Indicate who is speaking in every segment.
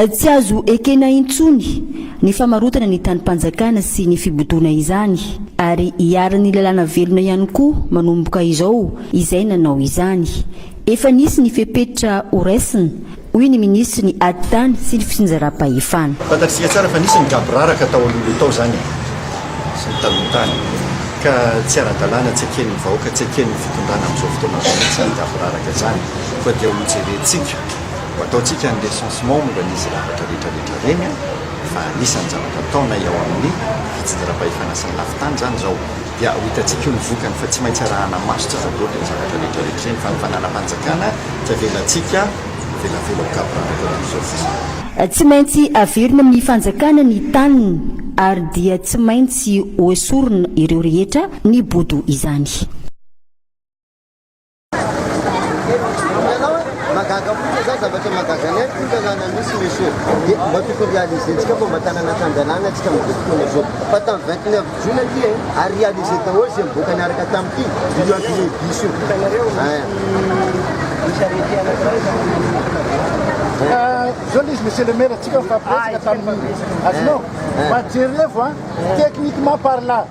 Speaker 1: Tsy azo ekena intsony ny famarotana ny tanim-panjakana sy ny fibodoana izany ary iharan'ny lalàna velona ihany koa manomboka izao izay nanao izany. Efa nisy ny fepetra horaisina hoy ny minisitry ny Ady tany sy ny fitsinjaram-pahefana. Fantatsika tsara fa
Speaker 2: nisy ny gaboraraka tao aloha tao izany e! sy ny taloha tany ka tsy ara-dalàna, tsy eken'ny vahoaka, tsy eken'ny fitondrana amin'izao fotoana izao mihitsy izany gaboraraka izany, koa dia ho jerentsika, ho ataontsika ny recensement momba an'izy ravatra rehetra rehetra ireny fa anisan'ny zavatra ataonay ao amin'ny fitsinjaram-pahefana sy ny lafin-tany izany izao. dia ho hitantsika eo ny vokany fa tsy maintsy arahana maso tsy aza loatra ny zavatra rehetra rehetra ireny fa ny fananam-panjakana tsy avelantsika ho velabela ho gaboraraka amin'izao fotsiny. Tsy maintsy
Speaker 1: averina amin'ny fanjakana ny taniny ary dia tsy maintsy hoesorina ireo rehetra nibodo izany.
Speaker 3: Magaga mihitsy za zavatra magaga ny aiko tanàna misy ny so dia mba tokony réaliser-ntsika fa mba tanàna tan-dalàna antsika amin'izao fotoana izao fa tamin'ny vingt neuf jona ity e ary réaliser daholo izay mivoaka niaraka tamin'ity io avenue du bus io hitanareo zao le izy monsieur
Speaker 4: le maire atsika mifampiretsaka tamin'ny azonao fa jerevo a techniquement parlant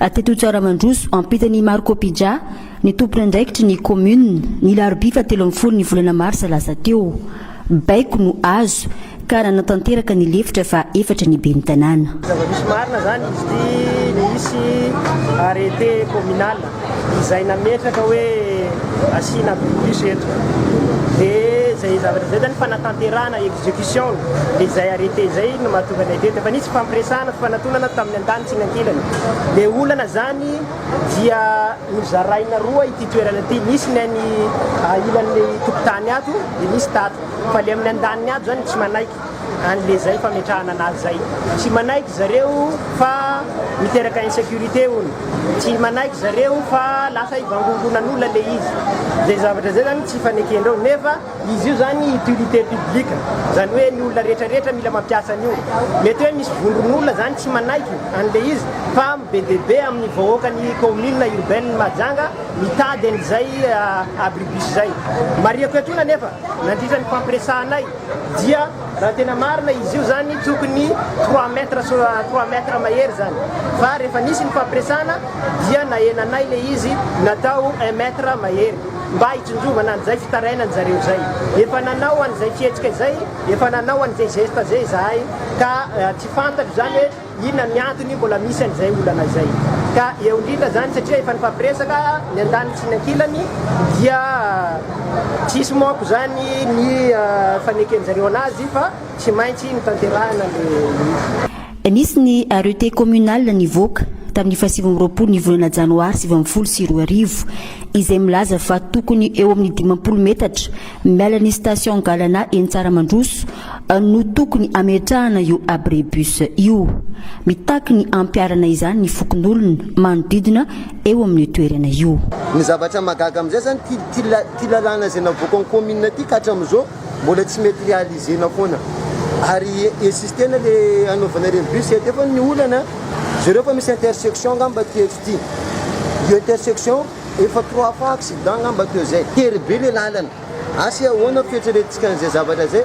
Speaker 1: Tetotsoa Ramandroso, ampitan' i Marco Pija, ny tomponandraikitry ny kaominina, ny larobia fahatelo ambin'ny folo ny volana marsa lasa teo. Baiko no azo, ka nanatanteraka ny lefitra faha-efatra ny ben'ny tanàna. Zava-misy marina izany
Speaker 5: izy ity, nisy arrêté communal izay nametraka hoe asiana blocus eto, dia izay zavatra izay izany fanatanterahana, execution, ilay izay arrêté izay no mahatonga anay teto. Efa nisy fifampiresahana, fifanatonana tamin'ny andaniny. Tsinankilana. Le olana zany dia nozaraina roa ity toerana ity, nisy ny any ilan'ny tokotany ato dia nisy tato, fa le amin'ny andaniny ato zany tsy manaiky an'le zay fametrahana anazy zay, tsy manaiky zareo fa miteraka insecurité hono, tsy manaiky zareo fa lasa hivangongonan'olona le izy, zay zavatra zay zany tsy ifanekenreo nefa Izy io izany utilité publique, izany hoe ny olona rehetra rehetra mila mampiasa an'io. Mety hoe misy vondron'olona izany tsy manaiky an'ilay izy fa be dia be amin'ny vahoakan'ny kaominina urbaine Mahajanga mitady an'izay abribus izay. Marihiko eto iny anefa, nandritra ny fampiresahanay dia raha tena marina izy io izany tokony trois mètres sur trois mètres mahery izany fa rehefa nisy ny fampiresahana dia nahenanay ilay izy natao un mètre mahery. mba hitsinjovana an'izay fitarainany zareo izay. Efa nanao an'izay fihetsika izay, efa nanao an'izay geste izay izahay ka tsy fantatro izany hoe inona ny antony mbola misy an'izay olana izay. Ka eo indrindra izany satria efa nifampiresaka ny andaniny sy ny ankilany dia tsisy manko izany ny faneken'zareo an'azy fa tsy maintsy notanterahina ilay izy. Nisy ny arrete
Speaker 1: communal nivoaka tamin'ny fahasivy amby roapolo ny volana janoary sivy ambin'ny folo sy roa arivo, izay milaza fa tokony eo amin'ny dimampolo metatra miala ny station Galana eny Tsaramandroso no tokony hametrahana io abribus io. Mitaky ny hampiharana izany ny fokonolona manodidina eo amin'io toerana io. Ny zavatra mahagaga
Speaker 3: amin'izay izany, ity lalàna izay navoakan'ny commune ity ka hatramin'izao Mbola tsy mety realiser-na foana. Ary insister-na le hanaovana ireny bus ety eo fa ny olana jereo fa misy intersection angamba aty etsy ity. Io intersection efa trois fois accident angamba teo zay. Tery be le lalana. Asa ahoana ny fieritreretintsika an'izay zavatra zay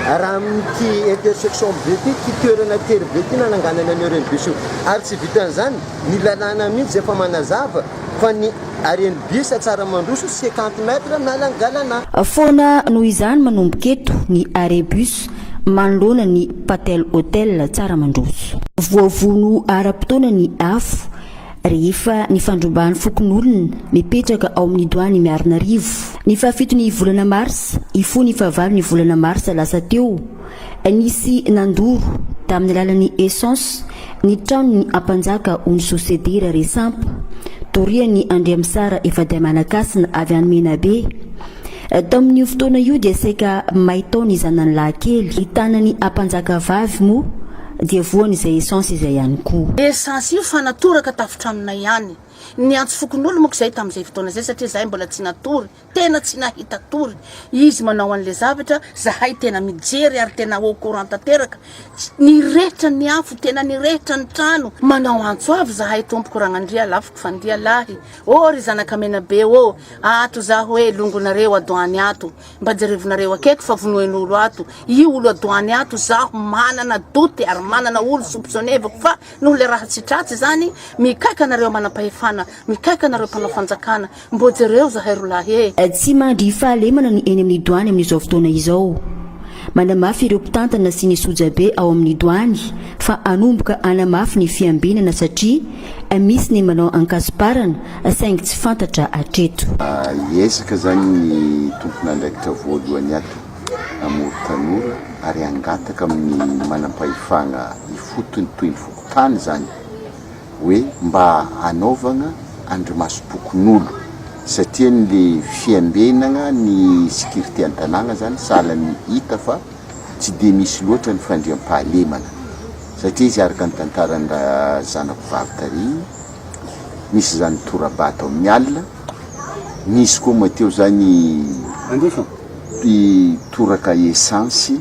Speaker 3: raha amin'ity intersection be ity, ity toerana tery be ity nananganana an'io reny bus io. Ary tsy vitan'izany, ny lalàna mihitsy izay efa manazava. fa ny haren'ny bus tsara mandroso cinquante mètres na langalana. Foana noho
Speaker 1: izany manomboka eto ny arrêt bus manoloana ny Patel Hotel tsara mandroso. Voavono ara-potoana ny afo rehefa nifandrombahan'ny fokonolona mipetraka ao amin'ny Doany Miarinarivo, ny fahafiton'ny volana marsa hifoha ny fahavalo ny volana marsa lasa teo. Nisy nandoro, tamin'ny alalan'ny essence, ny tranon'ny Ampanjaka Onso Sedira Resampa, dorian'i Andriamisara Ifadiamanakasina avy any Menabe. Tamin'io fotoana io dia saika may tao ny zanany lahy kely. Ny tanan'ny Ampanjaka vavy moa dia voan'izay essence
Speaker 6: izay
Speaker 1: ihany koa. Essence io
Speaker 6: fa
Speaker 1: natoraka tafotranonay
Speaker 6: ihany. Niantso fokonolona moa koa izahay tamin'izay fotoana izay satria izahay mbola tsy natory Tena tsy nahita tory izy manao an'le zavatra, zahay tena mijery ary tena au courant tanteraka, nirehitra ny afo, tena nirehitra ny trano, manao antso avo zahay tompoko Ragnandria lafoko fandia lahy ô ry zanaka Menabe ô, ato za hoe longonareo adoany ato, mba jerevonareo aketo fa vonoin'olo ato io olo adoany ato, zaho manana doute ary manana olo soupçonnevako fa noho le raha tsy tratsy zany, mikaika anareo manampahefana, mikaika anareo mpanao fanjakana, Mbô jereo zahay rolahy e! Tsy mandry
Speaker 1: fahalemana ny eny amin'ny Doany amin'izao fotoana izao. Manamafy ireo mpitantana sy ny sojabe ao amin'ny Doany fa hanomboka hanamafy ny fiambinana satria misy ny manao ankasiparana saingy tsy fantatra hatreto. Hiezaka
Speaker 7: izany ny tompon'andraikitra voalohany ato Amory Tanora ary hangataka amin'ny manampahefagna ifotony toy ny fokontany izany hoe mba hanaovagna andrimasom-pokonolon satria ny le fiambenagna ny sikirite an-tanàgna zany sahala ny hita fa tsy dia misy loatra ny fandriampahalemana satria izy araka ny tantaran'ny ra zanako vavy tary nisy zany tora-bato amin'ny alina nisy koa moa teo zany mpitoraka esansy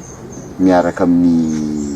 Speaker 7: miaraka amin'ny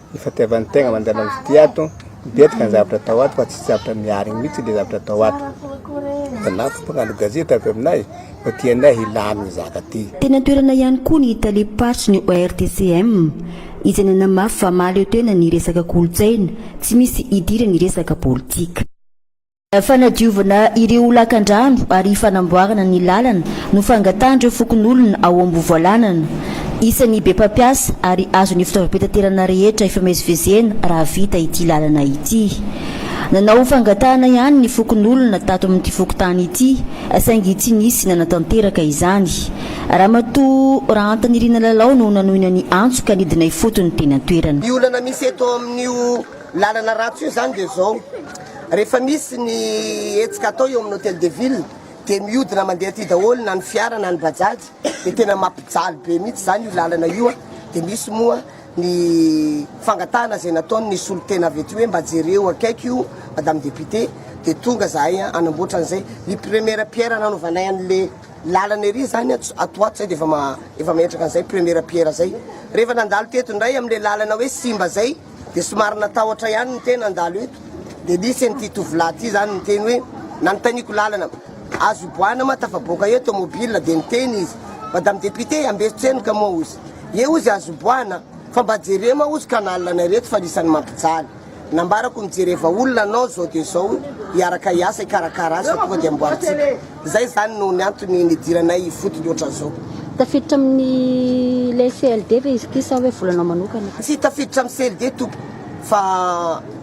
Speaker 8: Ny fatiavan'ny tegna mandeha manodidia ato, betsaka ny zavatra atao ato fa tsisy zavatra miarigny mihitsy le zavatra atao ato. Anao fo mpagnano gazety avy aminay fa tianay hilamigny zaka ty. Teny an-toerana ihany koa
Speaker 1: ny talem-paritry ny ORTCM, izay nanamafy fa mahaleo tena ny resaka kolontsaina, tsy misy idirany resaka politika. Fanadiovana ireo lakandrano ary fanamboarana ny lalana no fangatahan'ireo fokonolona ao Ambovoalanana. Isan'ny be mpampiasa ary azon'ny fitaovam-pitaterana rehetra ifamezivezena raha vita ity lalana ity. Nanao fangatahana ihany ny fokonolona tato amin'ity fokontany ity saingy tsy nisy nanatanteraka izany. Ramatoa Rahantanirina Lalao no nanohina ny antso ka nidina ifotony teny an-toerana. Ny olana misy eto
Speaker 9: amin'io lalana ratsy io izany dia izao. Rehefa misy ny hetsika atao eo amin'ny Hotel de Ville dia miodina mandeha aty daholo na ny fiara na ny bajaj dia tena mampijaly be mihitsy izany io lalana io a! dia misy moa ny fangatahana izay nataon'ny solontena avy aty hoe mba jereo akaiky io Madame Député dia tonga zahay a! hanamboatra an'izay ny première pierre nanaovanay an'le lalana ery izany a! ato ato izay dia efa efa mahetraka an'izay première pierre izay rehefa nandalo teto indray amin'le lalana hoe simba izay Dia somary natahotra ihany ny tena handalo eto, dia nisy an'ity tovolahy ity izany niteny hoe, nanontaniako lalana, azo hiboahana ma tafaboaka eo tomobila, dia niteny izy, madame députée hambeso tsenoka moa ozy, ie ozy azo hiboahana, fa mba jereo ma ozy canal anay reto fa anisan'ny mampijaly, nambarako mijereva olona anao zao dia zao hiaraka hiasa hikarakara azy fa tonga dia amboarintsika. Izay izany no niantony nidiranay ifotony ohatran'izao. Tafiditra
Speaker 10: amin'ilay CLD ve izy ity sa hoe volanao manokana? Tsy tafiditra amin'ny
Speaker 9: CLD tompoko fa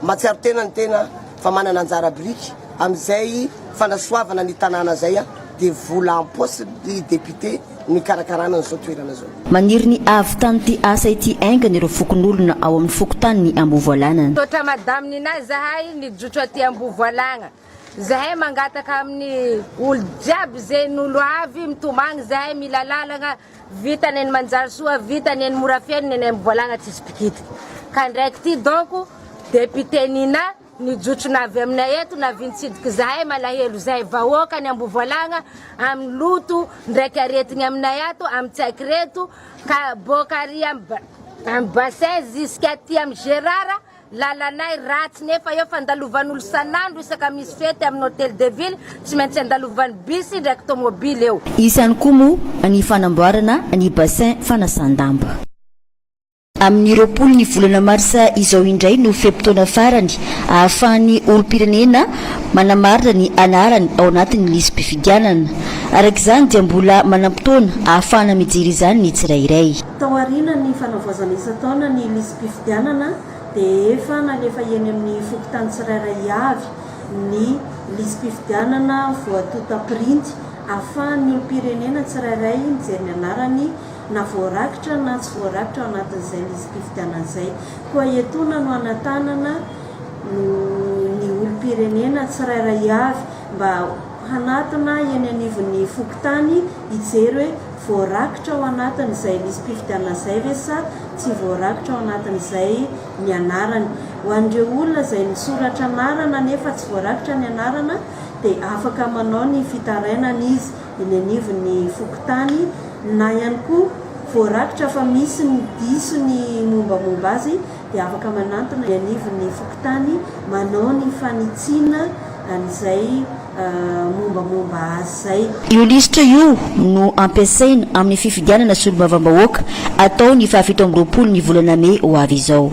Speaker 9: mahatsiaro tena ny tena fa manana anjara biriky amin'izay fanasoavana ny tanàna izay aho dia vola am-paosin'ny député no ikarakarana an'izao toerana izao. Maniry ny hahavitan'ity
Speaker 1: asa ity aingana ireo fokonolona ao amin'ny fokontanin'i Ambovoalagna. Misaotra Madame Nina
Speaker 11: zahay nijotso aty Ambovoalagna. Zahay mangataka aminy olo jiaby ze nolo avy mitomagny zahay mila lalagna vita neny manjary soa vita neny mora feno neny amy volagna tsisy pikity ka ndraiky ty donc depite nina nijotso na avy aminay eto na vintsidiky zahay malahelo zahay vahoaka ny ambovolagna amy loto ndraiky aretigny aminay ato amy tsaiky reto ka boka ary amy bassin ziska aty amy gerara Lalanay ratsy nefa eo fandalovan'olo san'andro isaka misy fety amin'ny hotel de ville tsy maintsy andalovan'ny bus ndraiky tomobily eo. Isany koa moa
Speaker 1: ny fanamboarana ny bassin fanasan-damba. Amin'ny roapolo ny volana marsa izao indray no fe-potoana farany ahafahan'ny olom-pirenena manamarina ny anarany ao anatin'ny lisi-pifidianana. Araka izany dia mbola manam-potoana ahafahana mijery izany ny tsirairay. Tao aorianan'ny
Speaker 12: fanavaozana isan-taona ny lisi-pifidianana dia efa nalefa eny amin'ny fokontany tsirairay avy ny lisi-pifidianana voatonta pirinty ahafahan'ny olom-pirenena tsirairay mijery ny anarany na voarakitra na tsy voarakitra ao anatin'izay lisi-pifidianana izay. Koa etoana no anatanana ny olom-pirenena tsirairay avy mba hanatona eny anivon'ny fokontany hijery hoe voarakitra ao anatin'izay lisi-pifidianana izay ve sa tsy voarakitra ao anatin'izay ny anarany. Ho an'ireo olona izay nisoratra anarana nefa tsy voarakitra ny anarana dia afaka manao ny fitarainana izy eny anivon'ny fokontany na ihany koa voarakitra fa misy ny diso ny mombamomba azy dia afaka manantona eny anivon'ny fokontany manao ny fanitsiana an'izay mombamomba azy izay. Io lisitra io
Speaker 1: no ampiasaina amin'ny fifidianana solombavambahoaka atao ny faha fito amby roapolo ny volana mey ho avy izao.